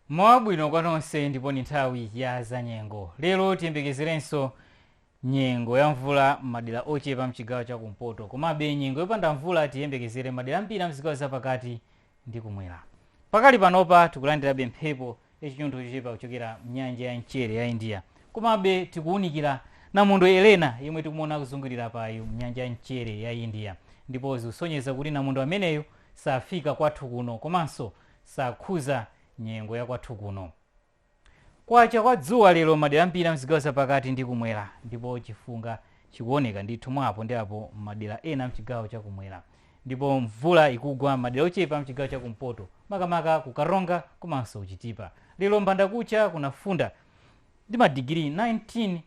mmawa wabwino kwa nonse ndipo ni nthawi ya zanyengo lero tiyembekezerenso nyengo ya mvula m'madera ochepa mchigawo cha kumpoto komabe nyengo yopanda mvula tiyembekezere madera ambiri a mzigawo zapakati ndi kumwera. Pakali panopa tikulandirabe mphepo yachinyontho chochepa kuchokera m'nyanja ya mchere ya India. Komabe tikuwunikira namondwe Eleanor yemwe tikumuona akuzungulira apayu m'nyanja ya mchere ya India ndipo zikusonyeza kuti namondwe ameneyu safika kwathu kuno komanso sakhuza nyengo ya kwathu kuno. kwacha kwa dzuwa lero m'madera ambiri a m'zigawo za pakati ndi kumwera ndipo chifunga chikuoneka ndithu mwa apo ndi apo m'madera ena a m'chigawo cha kumwera ndipo mvula ikugwa m'madera ochepa a m'chigawo cha kumpoto makamaka ku Karonga komanso ku Chitipa. Lero m'bandakucha kunafunda ndi madigiri 19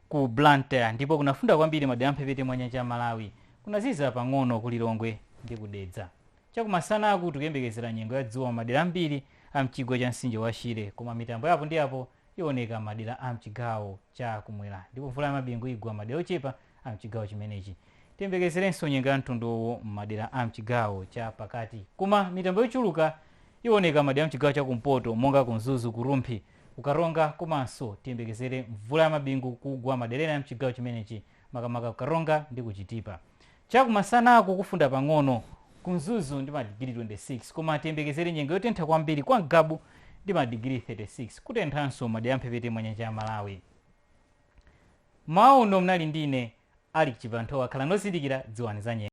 Ku Blantyre ndipo kunafunda kwambiri madera a m'mphepete mwa nyanja ya Malawi. Kunaziza pang'ono ku Lilongwe ndi ku Dedza. Chakumasanaku tikuyembekezera nyengo ya dzuwa m'madera ambiri a m'chigwa cha mtsinje wa Shire koma mitambo ya apo ndi apo iwoneka m'madera a m'chigawo cha kumwera ndipo mvula ya mabingu igwa m'madera ochepa a m'chigawo chimenechi. Tiyembekezerenso nyengo ya mtundu uwu m'madera a m'chigawo cha pakati koma mitambo yochuluka iwoneka m'madera a m'chigawo cha kumpoto monga ku Mzuzu, ku Rumphi, ku Karonga komanso tiyembekezere mvula ya mabingu kugwa madera ena a mchigawo chimenechi makamaka ku Karonga ndi ku Chitipa. Chakumasanaku kufunda pang'ono ku Mzuzu ndi madigiri 26 koma tiyembekezere nyengo yotentha kwambiri kwa Ngabu ndi madigiri 36, kutenthanso madera a mphepete mwa nyanja ya Malawi. M'mawa uno mnali ndi ine Alick Chibanthowa, khalani ozindikira, dziwani za nyengo.